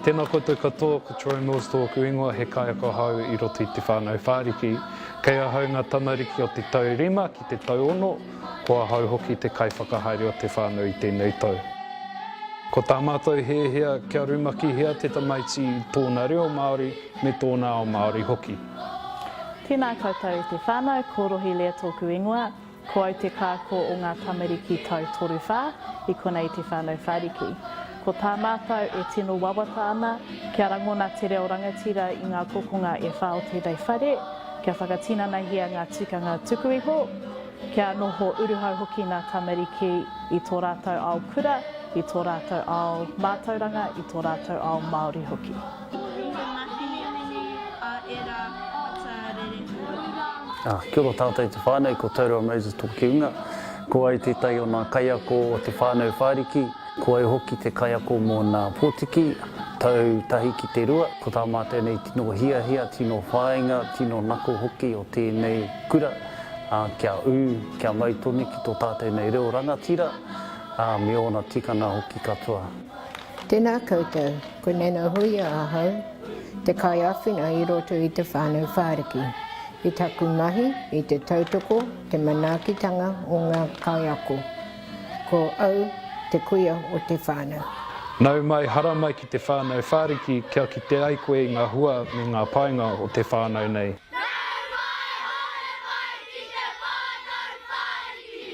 Tēnā koutou katoa, ko Troy Mills tōku ingoa, he kaiako ahau i roto i Te Whānau Whāriki. Kei ahau ngā tamariki o te tau rima ki te tau ono, ko ahau hoki te kaiwhakahaere o te whānau i tēnei tau. Ko tā mātou hēhea kia rumakihia te tamaiti i tōna reo Māori, Me tōna ao Māori hoki. Tēnā koutou te whānau, ko Rohilea tōku ingoa, ko au te kākō o ngā tamariki tau toru whā i konei te whānau whāriki. Ko tā mātou e tino wawata ana kia rangona te reo rangatira i ngā kokonga e whā o tēnei whare, kia whakatinanahia ngā tikanga tuku iho, kia noho uruhau hoki ngā tamariki i tō rātou ao kura, i tō rātou ao mātauranga, i tō rātou ao Māori hoki. Kia ora tātou te whānau, ko Tauroa Moses tōki unga. Ko au tētahi o nā kaiako o te whānau whāriki. Ko au hoki te kaiako mō nā pōtiki, tau tahi ki te rua. Ko tā mātou nei tino hiahia, tino whāinga, tino nako hoki o tēnei kura, kia ū, kia mau tonu ki tō tātou nei reo rangatira, me ōna tikanga hoki katoa. Tēnā koutou, ko Nana Hoia ahau, te kaiāwhina i roto i Te Whānau Whāriki, i taku mahi i te tautoko te manaakitanga o ngā kaiako. Ko au te kuia o te whānau. Nau mai, hara mai ki Te Whānau Whāriki kia kite ai koe i ngā hua me ngā painga o te whānau nei. Nau mai, haere mai ki Te Whānau Whāriki!